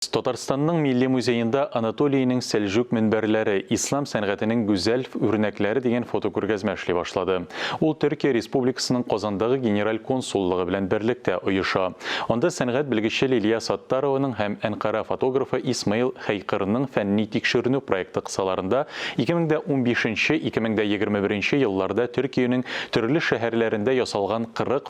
Татарстанның Милли музеенда Анатолийның Сәлҗүк мөнбәрләре, ислам сәнгатенең гүзәл үрнәкләре дигән фотокүргәзмә эшли башлады. Ул Төркия Республикасының Казандагы Генераль консуллыгы белән берлектә оеша. Анда сәнгать белгече Лилия Саттарованың һәм Әнкара фотографы Исмаил Хәйкырның фәнни-тикшеренү проекты кысаларында 2015-2021 елларда Төркиянең төрле шәһәрләрендә ясалган 40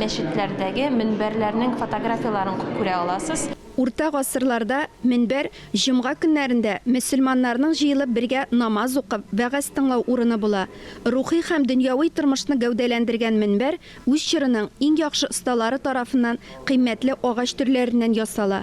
мәчетләрдәге мөнбәрләрнең фотографияләрен күрә аласыз. Урта гасырларда мөнбәр җомга көннәрендә мөселманнарның җыелып бергә намаз укып, вәгазь тыңлау урыны була. Рухи һәм дөньяви тормышны гәүдәләндергән мөнбәр үз чорының иң яхшы осталары тарафыннан кыйммәтле агач төрләреннән ясала.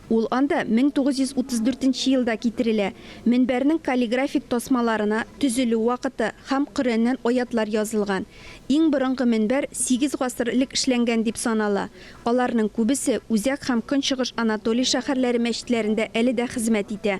Ул анда 1934 нче елда китерелә. Мөнбәрнең каллиграфик тасмаларына төзелү вакыты һәм Коръәннән аятьләр язылган. Иң борынгы мөнбәр сигез гасыр элек эшләнгән дип санала. Аларның күбесе Үзәк һәм Көнчыгыш Анатолий шәһәрләре мәчетләрендә әле дә хезмәт итә.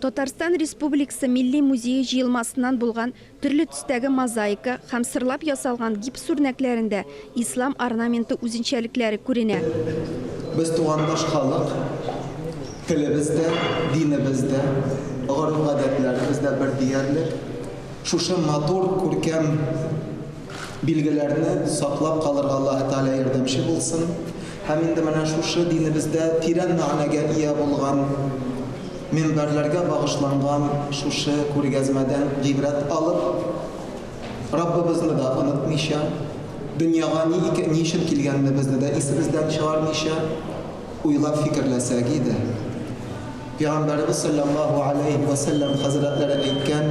Татарстан Республикасы Милли музее җыелмасыннан булган төрле төстәге мозаика һәм сырлап ясалган гипс үрнәкләрендә ислам орнаменты үзенчәлекләре күренә. Без тугандаш халык, телебез дә, динебез дә, гореф-гадәтләребез дә бер диярлек. Шушы матур, күркәм билгеләрне саклап калырга Аллаһы Тәгалә ярдәмче булсын. Һәм инде менә шушы динебездә тирән мәгънәгә ия булган, мөнбәрләргә багышланган шушы күргәзмәдән гыйбрәт алып, Раббыбызны да онытмыйча, дөньяга ни икә, ни өчен килгәнебезне дә исебездән чыгармыйча, уйлап-фикерләсәк иде. Пәйгамбәребез салләллаһу галәйһи вә сәлләм хәзрәтләре әйткән,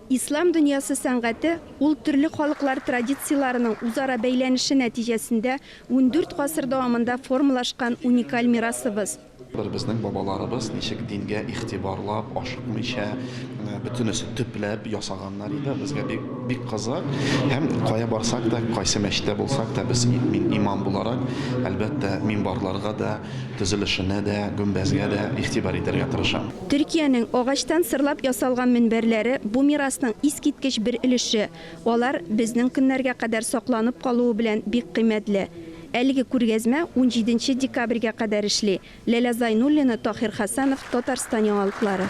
Ислам дөньясы сәнгате, ул төрле халыклар традицияләренең үзара бәйләнеше нәтиҗәсендә ундүрт гасыр дәвамында формалашкан уникаль мирасыбыз. Бер безнең бабаларыбыз ничек дингә игътибарлап, ашыкмыйча, бөтенесе төпләп ясаганнар иде, безгә бик, бик кызык. Һәм кая барсак та, кайсы мәчеттә булсак та, без, мин имам буларак, әлбәттә, минбарларга да, төзелешенә дә, гөмбәзгә дә игътибар итәргә тырышам. Төркиянең агачтан сырлап ясалган мөнбәрләре бу мирасның искиткеч бер өлеше, алар безнең көннәргә кадәр сакланып калуы белән бик кыйммәтле. Әлеге күргәзмә унҗиденче декабрьгә кадәр эшли, Ләлә Зайнуллина, Таһир Хәсәнов, Татарстан яңалыклары.